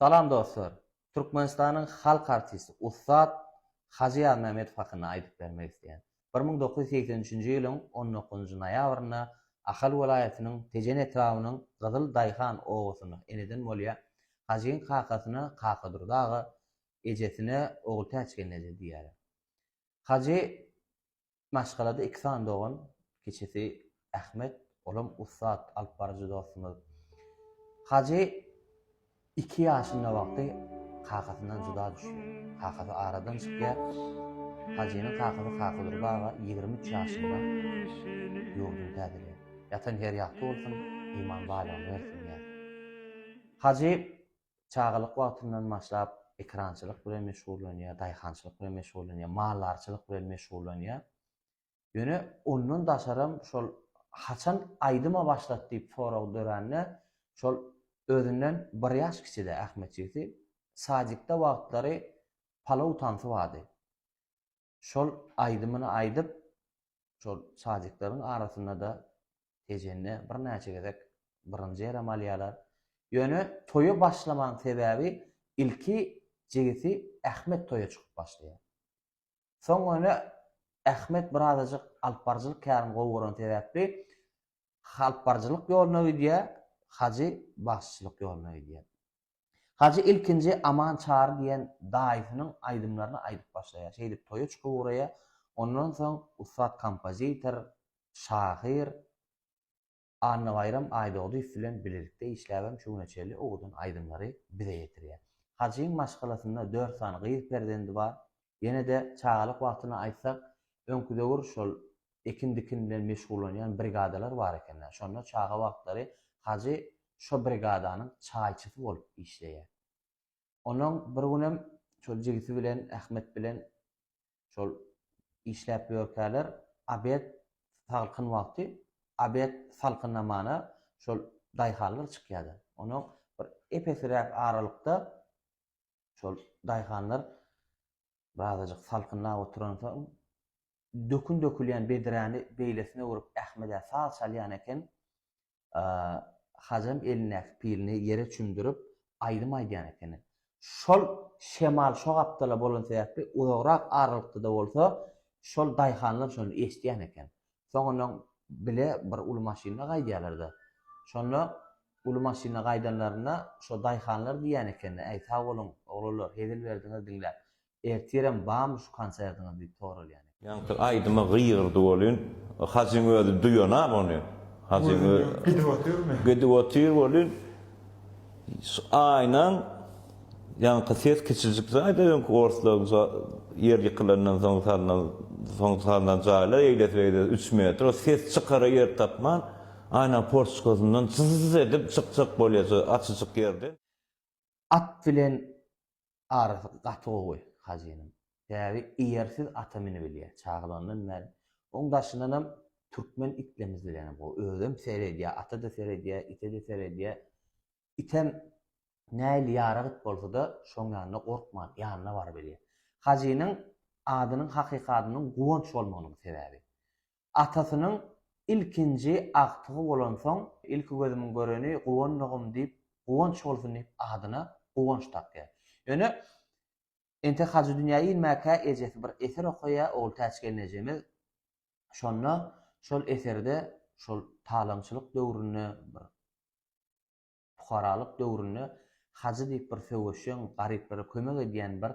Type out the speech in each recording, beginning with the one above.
Salam dostlar! Türkmenistanyň halk artisti ussat Hajy Ýazmämmedow hakynda aýdyp bermek isleýän. Bir müň dokuz ýüz segsen üçünji ýylyň on dokuzynjy noýabrynda Ahal welaýatynyň Tejen etrabynyň Gyzyl daýhan obasynda eneden bolýar. Hajyň kakasyna Kakadurdy aga, ejesine Ogultäçgelneje diýýärler. Hajy Maşgalada iki sany dogan, kiçisi Ahmet, olam ussat alyp baryjy dostumyz. Hajy iki ýaşynda wagty kakasyndan juda düşýär. Kakasy aradan çykýar. Hajynyň kakasy Kakydur baba ýigrimi üç ýaşynda ýurduny täzeleýär. Ýatan ýeri ýagty bolsun, iman baýlygyny bersin diýýäris. Hajy çagalyk wagtyndan başlap ekrançylyk bilen meşgullanýar, daýhançylyk bilen meşgullanýar, maldarçylyk bilen meşgullanýar. Ýöne ondan daşaram şol haçan aýdyma başlat diýip sorag dörände şol özünden bir ýaş kiçide Ahmet jigsi sadikde wagtlary palaw tansy bardy. şol aýdymyny aýdyp, şol sadyklaryň arasynda-da Tejende birnäçe gezek birinji ýeräm alýarlar. Ýöne toýa başlamagyň sebäbi ilki jigisi Ahmet toýa çykyp başlaýar. Soň ýöne Ahmet birazajyk alypbaryjylyk kärini gowy gören sebäpli Halpbarjylyk ýoluna gidýär, Hajy bagşyçylyk ýoluna gidýär. Hajy ilkinji Aman Çary diýen daýysynyň aýdymlaryny aýdyp başlaýar. Şeýdip toýa çykyp ugraýar. Ondan soň ussat kompozitor, şahyr Annabaýram Aýdogdyýew bilen bilelikde işläp hem şu güne çenli owadan aýdymlary bize ýetirýär. Hajyň maşgalasynda dört sany gyz perzendi bar. Ýene-de çagalyk wagtyny aýtsak, öňki döwür şol ekin-dikin bilen meşgullanýan brigadalar bar eken-ä. Şonda çaga wagtlary Hajy şo brigadanyň çaýçysy bolup işleýär. Onuň bir günem şol jigisi bilen, Ahmet bilen şol işläp ýörkäler, obed salkyn wagty, obed salkynnamana şol daýhanlar çykýar-da. Onuň bir epesiräk aralykda Şol daýhanlar birazajyk salkynlap oturansoň, dökün dökülýän bedräni beýlesine öwrüp, Ahmedä saz çalýan eken. Hajam elindäki pilini ýere çümdürip, aýdym aýdýan ekeni. Şol şemal şo gapdala bolan sebäpli, uzagrak aralykda-da bolsa, şol daýhanlar şony eşidýän eken. Soňundan bile bir uly maşynda gaýdýarlar-da. Şonda uly maşynda gaýdanlarynda şo daýhanlar diýýän ekenler, Äý, sag boluň, oglanlar, hezil berdiňiz diňläp. Ertirem barmy şu konsertiňiz diýip soralýan eken. Ýaňsyl aýdyma gygyrdy welin, Hajyň özi duýan-a muny. Hajyň özi gidip otyrmy? Gidip otyr welin. Şu aýnaň ýaňky ses kiçijik jaýda öňki orslaryň ýer ýykylandan soň salnan soň salnan jaýlar eýlesi beýlesi üç metr o ses çykara ýer tapman aýnaň portçkasyndan jyzz edip çykjak bolýar şu açyjyk ýerden. At bilen Arasy gaty gowy Hajynyň. Bäbi eýersiz ata minibilýär. Çagalygyndan bäri. Oň daşyndanam türkmen itlerimiz bilenem gowy. Özem seredýär, ata-da seredýär, ite-de seredýär. Item nähili ýarak it bolsa-da, şoň ýanyna gorkman, ýanyna barybilýär. Hajynyň adynyň hakyky adynyň Guwanç bolmagynyň sebäbi. Atasynyň ilkinji agtygy bolansoň, ilki gözümiň göreni Guwandygym diýip, Guwanç bolsun diýip adyna Guwanç dakýar. Ýöne entek Hajy dünýä inmäkä ejesi bir eser okaýar, Ogultäç gelnejemiz. Şonda şol eserde şol talaňçylyk döwründe bir Pukaralyk döwründe Hajy diýip bir söweşjeň, garyplara kömek edýän bir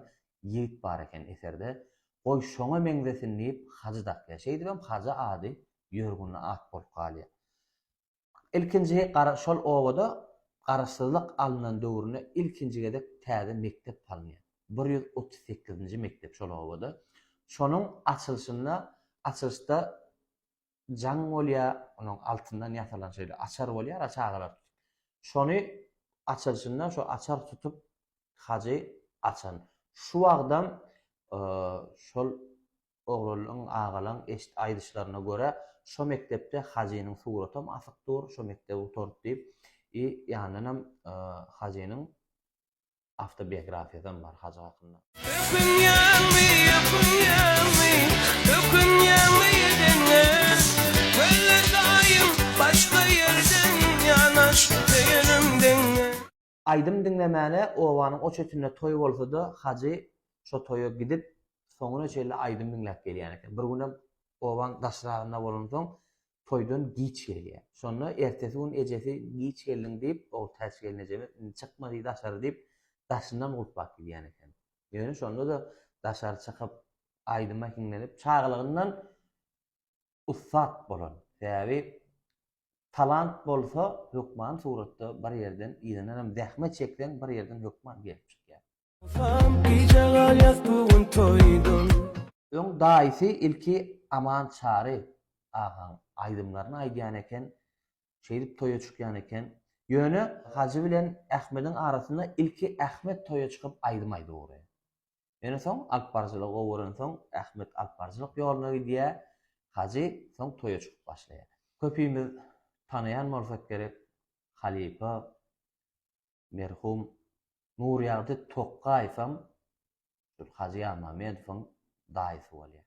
ýigit bar eken eserde. Goý, şoňa meňzesin diýip Hajy dakýar. Şeýdibem Hajy ady ýörgünli at bolup galýar. Ilkinji gara şol obada Garaşsyzlyk alnan döwründe ilkinji gezek täze mekdep salynýar. Bir ýüz otuz sekizinji mekdep şol obada. Şonuň açylyşynda açylyşda jaň bolýar, onuň altyndan ýasalan şeýle açar bolýar-a çagalar üçin. Şony açylşynda şu açar tutup hajy açan. Şu wagtam şol oglanlaň, agalaň eşit aýdyşlaryna görä, şo mekdepde hajynyň suratam asyp dur, şo mekdebi gutaryp diýip, i ýandanam hajynyň awtobiografiýasam bar Hajy hakynda. Ökünýäňmi, ökünýäňmi, ökünýäňmi edeňe, Möllet daýym başga ýerden ýanaş söýenim deňe. Aýdym diňlemäne obanyň o çetinde toý bolsa-da Hajy şo toýa gidip soňuna çenli aýdym diňläp gelýän eken. Bir günem obaň daşragynda bolansoň toýdan giç gelýär. Şonda ertesi gün ejesi giç geldiň diýip, ol täç gelnejeme indi çykma diý daşary diýip, daşyndan gulplap gidýän eken. Ýöne şonda-da daşary çykyp, aýdyma hiňlenip, çagalygyndan ussat bolan, sebäbi talant bolsa hökman suratda bir ýerden yzyndanam zähmet çekseň bir ýerden hökman gelip çykýar. Öň daýysy ilki Aman Çary agaň aýdymlaryny aýdýan eken, şeýdip toýa çykýan eken. Ýöne Hajy bilen Ahmediň arasynda ilki Ahmet toýa çykyp aýdym aýdyp ugraýar. Ýöne soň alyp baryjylygy gowy görensoň Ahmet alyp baryjylyk ýoluna gidýär, Hajy soň toýa çykyp başlaýar. Köpimiz tanaýan bolsak gerek, halypa. Merhum Nurýagdy Tokgaýewem şol Hajy Ýazmamedowyň daýysy bolýar.